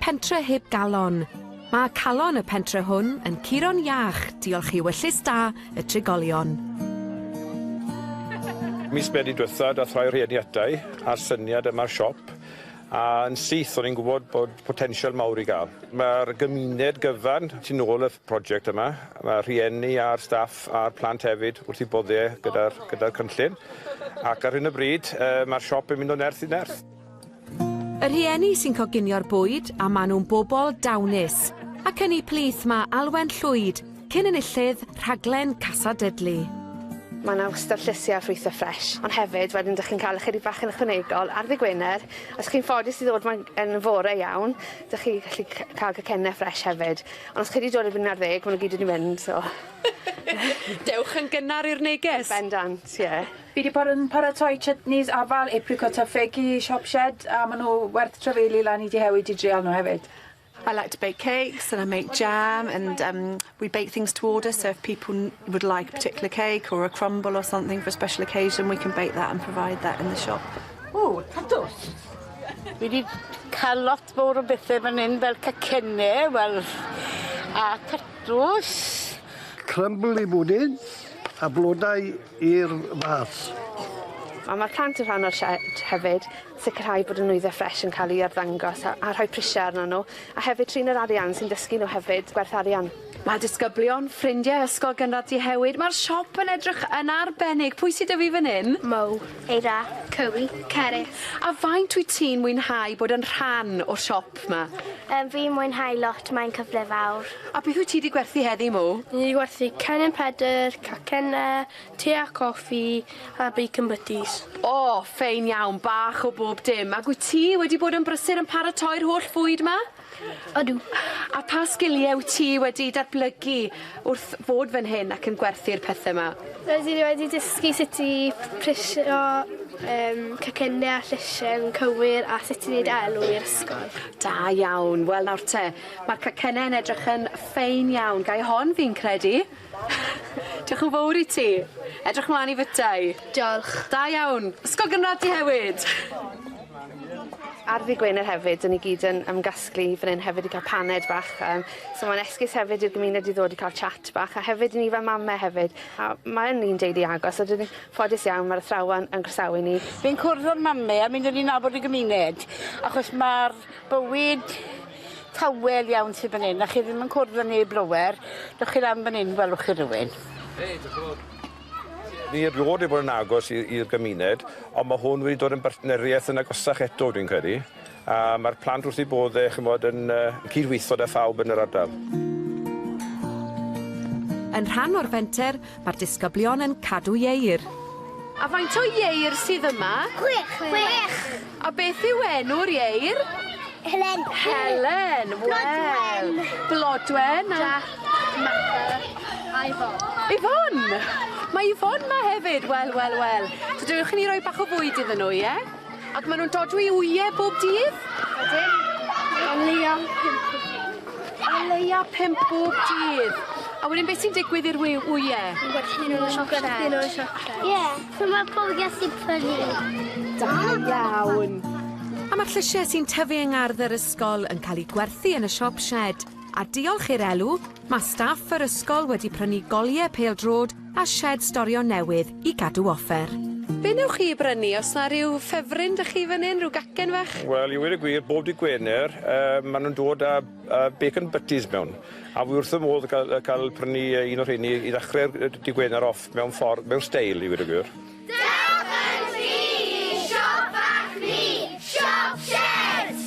Pentre heb galon. Mae calon y pentre hwn yn curo'n iach diolch i ewyllys da y trigolion. Mis Medi diwetha dath rhai o rhieni ata i a'r syniad yma'r siop a yn syth o'n i'n gwybod bod potensial mawr i gael. Mae'r gymuned gyfan tu nôl y project yma, mae rhieni a'r staff a'r plant hefyd wrth i bodde gyda'r gyda'r cynllun ac ar hyn o bryd yy mae'r siop yn mynd o nerth i nerth. Y rhieni sy'n coginio'r bwyd a maen nhw'n bobl dawnus. Ac yn ei plith mae Alwen Llwyd, cyn enillydd rhaglen Casa Dudley. Mae yna wastad llysiau a ffrwythau ffres, ond hefyd wedyn dych chi'n cael ychydig bach yn ychwanegol ar ddy Gwener. Os chi'n ffodus i ddod mae'n yn fore iawn, dych chi'n gallu cael cacennau ffres hefyd. Ond os chi wedi dod erbyn un ar ddeg, maen nhw gyd wedi mynd, so... Dewch yn gynnar i'r neges! Bendant, ie. Yeah. Fi 'di bod yn paratoi chutneys afal, apricot a ffegi, shop shed, a ma' nw werth trafeilu lan i Deheuig i drial nw hefyd. I like to bake cakes and I make jam and um we bake things to order so if people n- would like a particular cake or a crumble or something for a special occasion we can bake that and provide that in the shop. Ww, tatws. Fi 'di ca'l lot Sbwr o bethe fan 'yn fel cacenne wel a tatws. Crumbly bwdin a blodau i'r fath. A ma'r plant yn rhan o'r sied hefyd. Sicrhau bod y nwyddau ffres yn cael eu arddangos a a rhoi prisiau arnyn nhw a hefyd trin yr arian sy'n dysgu nhw hefyd gwerth arian. Mae disgyblion, ffrindiau ysgol gynradd Dehewyd, mae'r siop yn edrych yn arbennig. Pwy sy 'da fi fan 'yn? Mo. Eira, Cywi, Cerrig. A faint wyt ti'n mwynhau bod yn rhan o'r siop 'ma? Yym, fi'n mwynhau lot, mae'n cyfle fawr. A beth wyt ti 'di gwerthu heddi, Mo? Ni 'di gwerthu cennin Pedr, cacenne, te a coffi, a bacon butties. O, ffein iawn, bach o bob dim. Ag wyt ti wedi bod yn brysur yn paratoi'r holl fwyd 'ma? Ydw. A pha sgiliau wyt ti wedi datblygu wrth fod fan hyn ac yn gwerthu'r pethau yma? Rydw i wedi dysgu sut i prisio um, cacennau a llysiau yn cywir a sut i wneud elw i'r ysgol. Da iawn. Wel nawr te, mae'r cacennau yn edrych yn ffein iawn. Gai hon fi'n credu? Diolch yn fowr i ti. Edrych mlan i fytau. Diolch. Da iawn. Ysgol gynradd ti hefyd. Ar ddy Gwener hefyd 'dyn ni gyd yn ymgasglu fan 'yn hefyd i ca'l paned bach yym so ma'n esgus hefyd i'r gymuned i ddod i ca'l chat bach a hefyd i ni fel mame hefyd a mae yn un deulu agos a 'dyn ni ffodus iawn ma'r athrawon yn groesawu ni. Fi'n cwrdd â'r mame a mi newn ni nabod y gymuned achos ma'r bywyd Tawel iawn sydd fan hyn, a chi ddim yn cwrdd â neb lawer. Dewch chi lan fan hyn, welwch chi rywun. Hei, diolch yn fawr. Ni erioed wedi bod yn agos i'r gymuned, ond mae hwn wedi dod yn bartneriaeth yn agosach eto, dwi'n credu, a mae'r plant wrth eu bodd e, chymod, yn cydweithio da phawb yn yr ardal. Yn rhan o'r fenter, Mae'r disgyblion yn cadw ieir. A faint o ieir sydd yma? Chwech. Chwech. A beth yw enw'r ieir? Helen. Helen. Wel. Blodwen. Jack. Matha. A Yvonne. Yvonne! Mae Yvonne ma hefyd. Wel, wel, wel. So dewch i ni roi bach o fwyd iddyn nhw, ie? Ac maen nhw'n dodwy wyau bob dydd? Ydyn. O leia pimp bob dydd. O leia pimp bob dydd. A wedyn beth sy'n digwydd i'r wyau? Gwerthin nhw'n siocled. Gwerthin nhw'n siocled. Ie, so mae pobl gallu prynu. Da iawn. A mae'r llysiau sy'n tyfu yng ngardd yr ysgol yn cael eu gwerthu yn y siop sied. A diolch i'r elw, mae staff yr ysgol wedi prynu goliau pêl-droed a sied storio newydd i gadw offer. Be wnewch chi i brynu? Oes 'na ryw ffefryn 'da chi fan hyn? Ryw gacen fach? Wel, i weud y gwir, bob dydd Gwener yy ma' nw'n dod â yy bacon butties mewn a wi wrth fy modd ca'l yy ca'l prynu yy un o rheini i ddechre'r yy dy' Gwener off mewn ffor mewn steil i weud y gwir. Dewch yn sgrin i siop fach ni, Siop Shed!